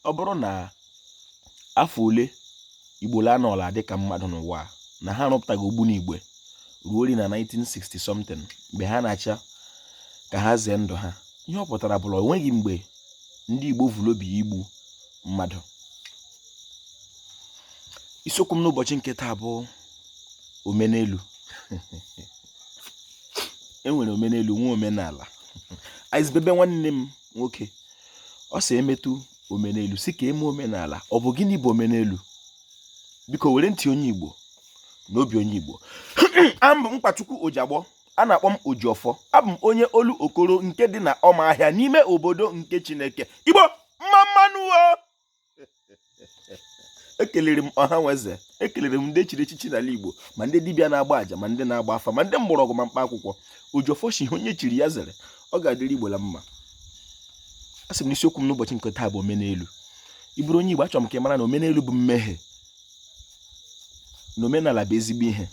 ọ bụrụ na afọ ole igbo la anọla dị ka mmadụ n'ụwa na ha arụpụtaghị ogbunigwe ruo ori na 1960 something mgbe ha na-achọ ka ha zee ndụ ha ihe ọ pụtara bụ la onweghị mgbe ndị igbo vu l'obi igbu mmadụ isiokwu m n'ụbọchị nke taa bụ omenelu enwere omenelu nwee omenala aizbebe nwanne m nwoke ọ sị emetụ omenelu sị ka e mee omenala ọ bụ gịnị bụ omenelu biko were ntị onye igbo na obi onye igbo abụ m nkwachukwu ojiagbọ a na-akpọ m ojiọfọ abụ m onye olokoro nke dị na ụmụahịa n'ime obodo nke chineke igbo mma mma nụ ekelere m ọha nwe eze ekelere m ndị chiri echichi n'ala igbo ma ndị dibịa na-agba aja ma ndị na-agba afa ma ndị mgbọrọgwụ ma mkpa akwụkwọ ojiọfọ shị ihe onye chiri ya zere ọ ga-adịrị igbo la mma a sị m na isiokwu m n'ụbọchị nke taa bụ omenelu ị bụrụ onye igbo achọrọ m ka ị mara na omenelu bụ mmehie na omenala bụ ezigbo ihe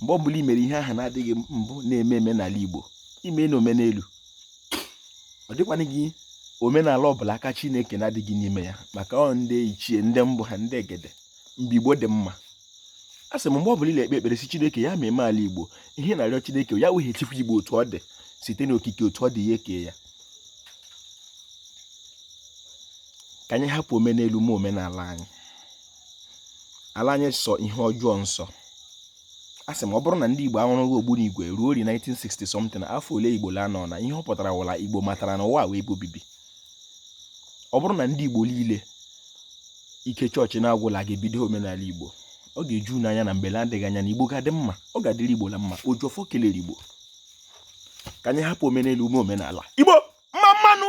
mgbe ọ bụla i mere ihe ahụ na-adịghị mbụ na-eme eme n'ala igbo i mena omenelu ọ dịkwanụghị omenala ọbụla aka chineke na-adịghị n'ime ya maka ọ ndị ichie ndị mbụ ha ndị egede mgbe igbo dị mma a sị m mgbe ọbụla ị la-ekpe ekpere sị chineke ya mema ala igbo ihe ị na-arịọ chineke ya weghachikwa igbo otu ọ dị site n'okike otu ọ dị ya ekee ya ka anyị hapụ omenelu mee omenala anyị ala anyị sọ ihe ọjọọ nsọ a sị m ọ bụrụ na ndị Igbo arụghị ogbunigwe ruo ori 1960 something afọ ole Igbo la anọna ihe ọ pụtara wụ la Igbo matara na ụwa wụ ebe obibi ọ bụrụ na ndị Igbo niile ike chọọchị na-agwụla ga-ebido omenala Igbo ọ ga-eju unu anya na mgbe na-adịghị anya na Igbo ga-adị mma ọ ga-adịrị Igbo na mma Ojiọfọ kelere Igbo ka anyị hapụ omenelu mee omenala Igbo mma mma nụ